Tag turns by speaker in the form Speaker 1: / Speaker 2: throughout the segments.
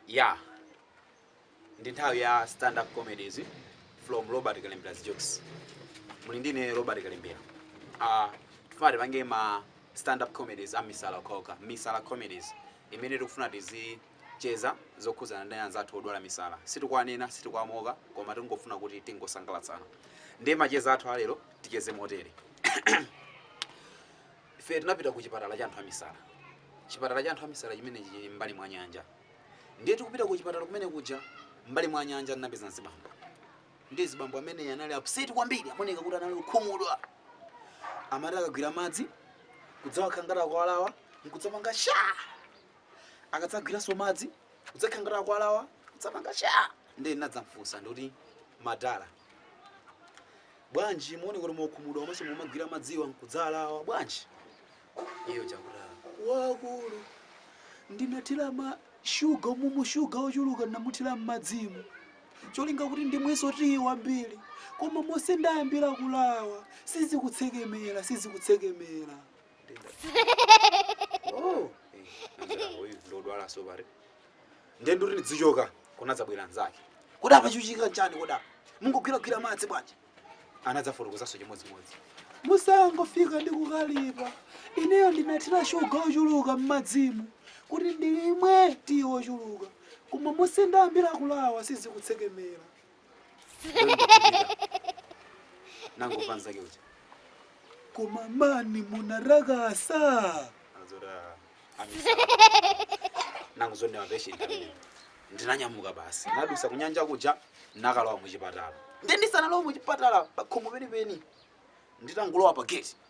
Speaker 1: ya ndi nthawi ya stand up comedies from robert kalembera's jokes muli ndi ine robert kalembera uh, tifuna tipange ma stand up comedies a misala okhaokha misala comedies imene tikufuna tizicheza zokhuzana ndi anzathu odwala misala sitikwanena sitikwamoka koma tingofuna kuti tingosangalatsana ndiye macheza athu alero ticheze motere Ife tinapita ku chipatala cha anthu amisala. Chipatala cha anthu amisala chimenechi chili m'mbali mwa nyanja. Ndiye tikupita ku chipatala kumene kuja, m'mbali mwa nyanja tinapeza mzibambo. Ndiye mzibambo amene anali upset kwambiri, amaoneka kuti anali okhumudwa. Amati akagwira madzi, kudzawakhala ngati akwalawa, nkudzapanga sha! Akadzagwiranso madzi, kudzakhala ngati akwalawa, kudzapanga sha! Ndiye ndinadzamfunsa ndikuti, madala, bwanji muoneka kuti mwakhumudwa komanso mumagwira madziwa nkudzalawa bwanji iyo chakuti wakulu ndinathira ma shuga umumu shuga ochuluka ndinamuthira m'madzimu cholinga kuti ndimwenso tiyi wambiri koma monse ndayambira kulawa sizikutsekemera sizikutsekemera oh eh, anzanga uyu ndodwala sobari ndiye ndikuti ndizichoka kunadzabwera anzake kodi apa chikuchitika nchani kodi apa mungogwiragwira madzi bwanji anadzafotokozanso chimodzimodzi musangofika ndi kukalipa ineyo ndinathira shuga ochuluka m'madzimu kuti ndilimwe tiyi ochuluka koma monse ndayambira kulawa sizikutsekemera nangomva nzake uja koma mani munarakasa asolola nangu zonse mapeshenti pamene ndinanyamuka basi nadusa kunyanja kuja nakalowa muchipatala nde ndisanalowa muchipatala pakhomo penipeni nditangolowa pa gate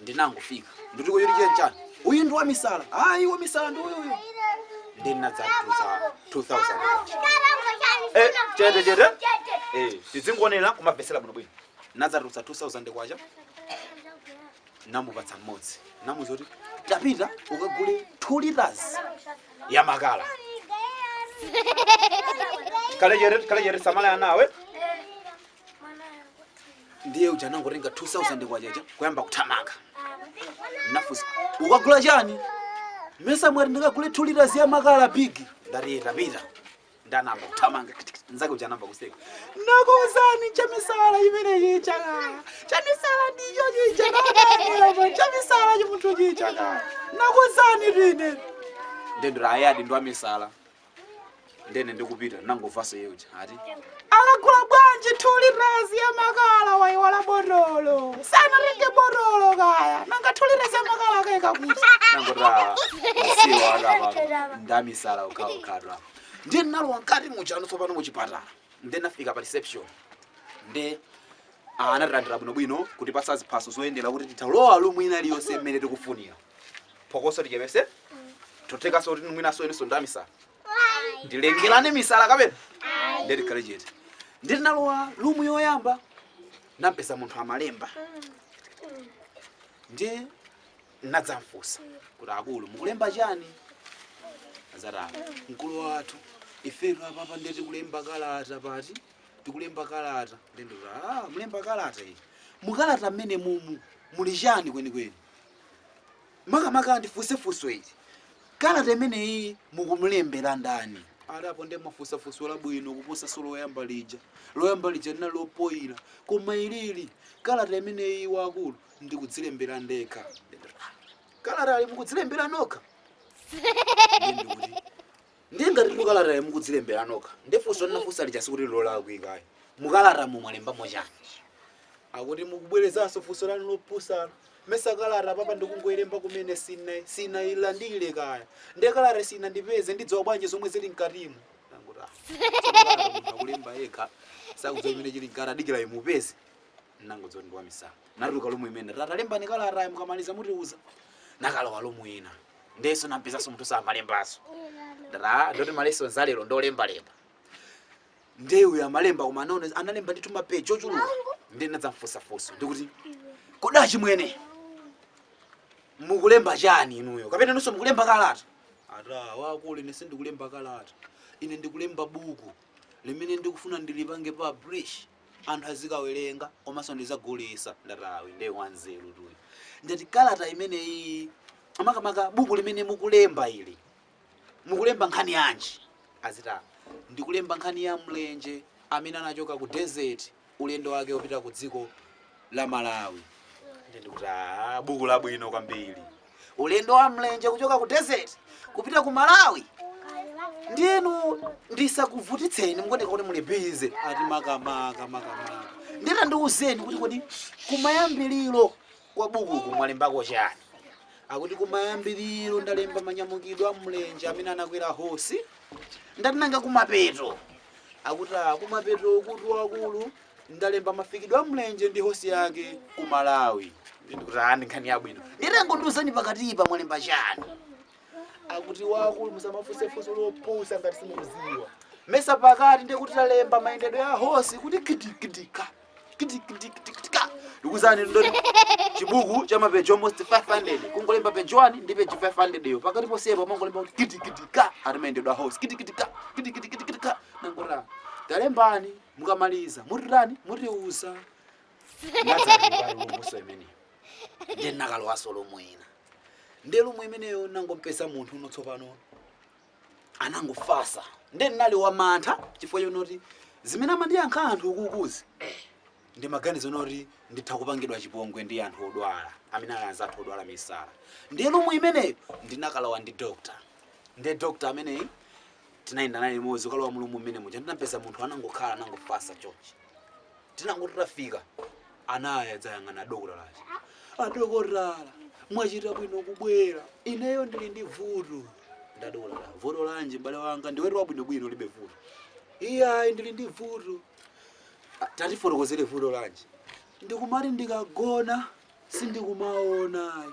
Speaker 1: ndinangofika ndikuti kodi chili chani uyu ndi wamisala ayi wamisala ndi uyu uyu ndi ndinadzatulutsa 2000 Eh, chete, chete. eh tizingoonera kumamvetsera bwino bwino nadzatulutsa 2000 kwacha namupatsa mmodzi namuza kuti tapita ukagule 2 liters ya makala kalejere kalejere samala anawe ndiye uja anangotenga 2000 kwacha ija kuyamba kuthamanga nafunsa ukagula chani mesa mwati ndikagule 2 liters ya makala big ndati tapita nde anayamba kuthamanga nzake uja anayamba kuseka nakuuzani chamisala imeneyi chaka chamisala ndicho chichaka chamisala chimunthu chichaka nakuuzani tine ndendura ayadi ndo amisala ndene ndikupita ndinangomvanso iye uja ati akagula bwanji 2 liters ya makala waiwala botolo sanatenge botolo kaya nanga 2 liters ya makala akaika kuti nangoti usiwa akapa ndamisala ukhaukhatwa ndiye ndinalowa mkati muchano tsopano muchipatala ndiye ndinafika pa reception ndiye anatilandira bwinobwino kutipatsa ziphaso zoyendera kuti titha lowa lumu ina iliyonse mmene tikufunira phokoso tichepese zothekaso kuti mwinaso inuso ndamisala ndilengelane misala kapena ndiye tikhale chete ndiye tinalowa lumu yoyamba nampeza munthu amalemba ndiye nadzamfusa kuti akulu mukulemba chani azati ah mkulu wathu ifetu apapa ndiye tikulemba kalata apa tikulemba kalata nde ndoti ah, mulemba kalata iyi mukalata mmene mumu muli chani kwenikweni makamaka ndifunse funso ili kalata imeneyi mukumulembera ndani ati apo ndiye mwafunsa funso labwino kuposanso loyamba lija loyamba lija linali lopoyira koma ilili kalata imeneyi wakulu ndikudzilembera ndekha kalata ali mukudzilembera nokha Ndiye ngati mu kalatayo mukudzilembera nokha, ndiye funso ndinafunsa lija sikuti lolakwika ayi. Mu kalatamo mwalembamo chani? Akuti mukubwerezanso funso lanu lopusalo. Mesa kalata apapa ndikungoilemba kumene sina sinailandire kaya. Ndiye kalata sinandipeze ndidziwa bwanji zomwe zili mkatimo. Ndangoti ah. Kalata munthu akulemba yekha sakudziwa chimene chili mkati adikira imupeze. Ndinangodziwa ndi wamisala. Natuluka lumu imene ndati lembani kalata mukamaliza mutiuza. Nakalowa lumu ina. ndiyeso nampezaso munthuso amalembaso aa ndoti ma lessons a lero ndolembalemba ndiye uyu amalemba koma analemba ndithu mapeji ochuluka ndiye ndinadzamfusafusa ndikuti kodi achimwene mukulemba chani inuyo kapena inunso mukulemba kalata ati wakulu ine sindikulemba kalata ine ndikulemba buku limene ndikufuna ndilipange publish anthu azikawerenga komanso ndizagulisa ndati ayi nde wanzerutu uyu ndati kalata imeneyiyi ah makamaka buku limene mukulemba ili mukulemba nkhani yanji aziti "Ah, ndikulemba nkhani ya mlenje amene anachoka ku desert ulendo wake wopita ku dziko la malawi nde ndikuti "Ah, buku labwino kwambiri ulendo wa mlenje kuchoka ku desert kupita ku malawi nde inu ndisakuvutitseni mukuoneka kuti muli busy ati makamaka makamaka nde tandiuzeni kuti kodi kumayambiriro kwa bukuku mwalembako chani akuti kumayambiriro ndalemba manyamukidwe a mlenje amene anakwera hosi ndati nanga kumapeto akuti "Ah, kumapeto ukutu akulu Ndalemba mafikidwe a mlenje ndi hosi yake ku Malawi. Ndiye ndikuti ah, ndi nkhani yabwino. Ndiye tangondiuzani pakatipa mwalemba chiyani? Akuti wakulu musamafunse funso lopusa ngati simukuziwa. Mesa pakati ndiye kuti talemba mayendedwe a hosi kuti kitikidika. Kitikidikidika. Ndikuuzani zoti chibuku cha mapeji almost 500 kungolemba peji 1 ndi peji 500 yo pakati posepa mangolemba kuti kitikidika ati mayendedwe a hosi kitikidika kitikidikidika nanga talembani mukamaliza mutitani mutiuza ndinazalowa mu room imeneyo ndiye ndinakalowaso lumu ina ndiye lumu imeneyo nangompeza munthu uno tsopano anangofasa ndiye ndinali wamantha chifukwa chonoti zimene amandiyankha anthu ukuzi ndi maganizo onoti nditha kupangidwa chipongwe ndi anthu odwala amene ali anzathu odwala misala ndiye lumu imeneyo ndinakalowa ndi dokta ndiye dokta ameneyi tinayenda naye limodzi kukalowa mu lumu mmene muja ndinampeza munthu anangokhala anangofasa chonchi tinangoti tafika anayidzayang'ana dokotala aja adokotala mwachita bwino kubwera ineyo ndili ndi vuto nde adokotala vuto lanji m'bale wanga ndiwetu wabwinobwino ulibe vuto iyayi ndili ndi vuto "Ah, tatifotokozere vuto lanji ndikumati ndikagona sindikumaona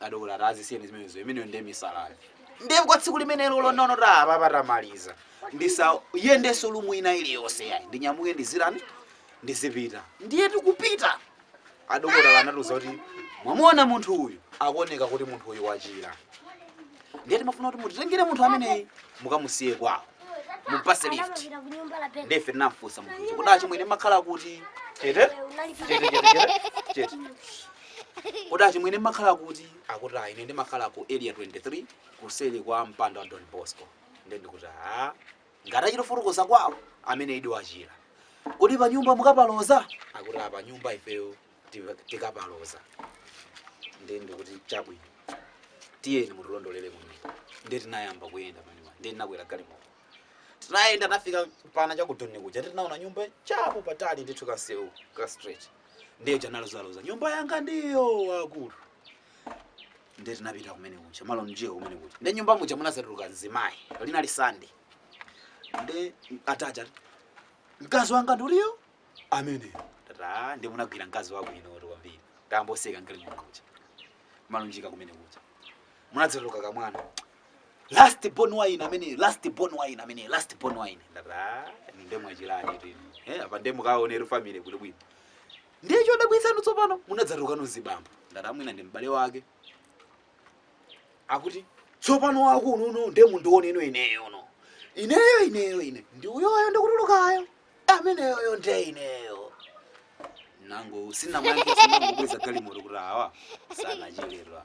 Speaker 1: Adokota ati azisiyeni zimenezo, imeneyo ndiye misalayo. Ndiye kwa tsiku limenelo lonono ati apapa tamaliza. Ndisayendenso lumu ina iliyonse yayi. Ndinyamuke ndizirani? Ndizipita. Ndiye tikupita. Adokota anatiuza kuti mwamuona munthu uyu akuoneka kuti munthu uyu wachira. Ndiye timafuna kuti mutitengere munthu ameneyi mukamusiye kwawo. Mupase lift. Ndiye ife tinamfunsa munthu uja kuti achimwene mmakhala kuti chete chete chete chete chete. Kodi achimwene mmakhala kuti? Akuti ah, ine ndimakhala ku area 23 kuseli kwa mpanda wa Don Bosco. Ndiye ndikuti ah, ngati achita kufotokoza kwawo ameneyidi wachira. Kodi pa nyumba mukapaloza? Akuti pa nyumba ifeyo tikapaloza. Ndiye ndikuti chabwino. Tiyeni mutilondolere kumene. Ndiye tinayamba kuyenda pamene. Ndiye tinakwera galimoto. Tinayenda tinafika pana cha ku Doni kuja. Ndiye tinaona nyumba chapatali ndithu kasewu ka straight. ndiye uja analozaloza nyumba yanga ndiyo akulu ndiye tinapita kumene kuja malonje kumene kuja ndiye mnyumba muja munazatuluka mzimayi linali Sande ndiye ati aja mkazi wanga ndi uyo amene tata ndiye munagwira mkazi wako inoto kwambiri tamboseka nkali kumene kuja malonje kumene kuja munadzatuluka kamwana last born wa ine amene last born wa ine amene last born wa ine ndati nde mwachilani tini eh apa nde mukaonera family kuti bwino ndiye chodabwitsano tsopano munadzatulukano azibambo ndati mwina ndi m'bale wake akuti tsopano wako uno nde mundiwoneno ineyo uno ineyo ineyo ine ndi uyoyo ndikutulukayo ameneyoyo nde ineyo nango sinamange sinangobweza galimoto kuti awa sanachilirwa